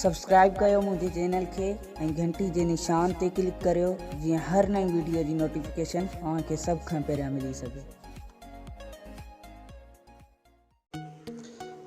Subscribe ڪيو منهنجي channel کي ۽ گهنٽي جي نشان تي ڪلڪ ڪريو جيئن هر نئين ويڊيو جي نوٽيفڪيشن اوهان کي سڀ کان پهريان ملي سگهي.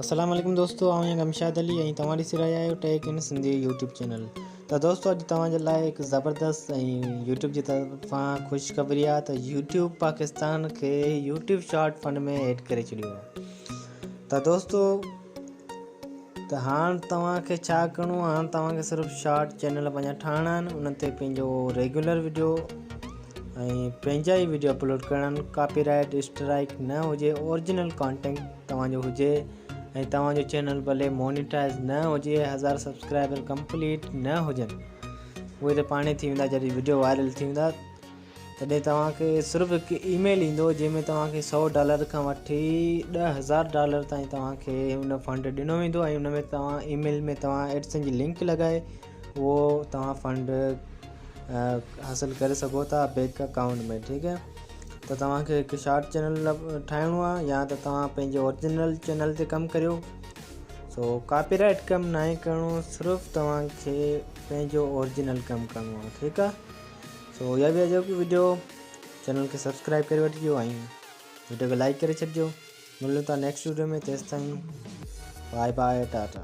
السلام عليڪم دوستو آئون آهيان گمشاد علي ۽ توهان ڏسي رهيا آهيو tech in Sindhi YouTube channel ته دوستو اڄ توهان جي لاء هڪ زبردست ۽ يوٽيوب جي طرفان خوشخبري آهي ته يوٽيوب پاڪستان کي يوٽيوب شارٽ فنڊ ۾ ايڊ ڪري ڇڏيو آهي ته دوستو ته هاڻ توهان کي ڇا ڪرڻو آهي هاڻ توهان کي صرف شارٽ چينل پنهنجا ٺاهڻا آهن ان تي پنهنجو ريگولر ويڊيو ۽ پنهنجا ئي ويڊيو اپلوڊ ڪرڻا آهن ڪاپي رائيٽ اسٽرائيڪ نه هجي اورجنل ڪانٽينٽ توهان جو هجي ۽ توهان جو چينل ڀلي مونيٽائز نه هجي هزار سبسڪرائبر ڪمپليٽ نه هجن اهي ته پاڻ ئي ٿي ويندا جڏهن ويڊيو وائرل ٿي ويندا تڏهن توهان کي صرف هڪ اي ميل ايندو جنهن ۾ توهان کي سؤ ڊالر کان وٺي ڏهه هزار ڊالر تائين توهان کي ان فنڊ ڏنو ويندو ۽ ان ۾ توهان اي ميل ۾ توهان ايڊسن جي لنڪ لڳائي اهو توهان فنڊ حاصل ڪري سگهو ٿا بيڪ اڪائونٽ ۾ ٺيڪ آهي ته توهان کي هڪ شارٽ چينل ٺاهڻو آهي يا ته توهان پنهنجي اورجنل چينل تي ڪم ڪريو سو ڪاپي رائٽ ڪم ناهي ڪرڻو صرف توهان کي پنهنجو اورجنل ڪم ڪرڻو آهي ٺيڪ آهي سو اها هئي اڄوڪي وڊيو چينل کي سبسڪرائب ڪري وٺجو ۽ وڊيو کي لائڪ ڪري ڇڏجو ملون ٿا نيڪسٽ وڊيو ۾ تيستائين باء باء ٽاٽا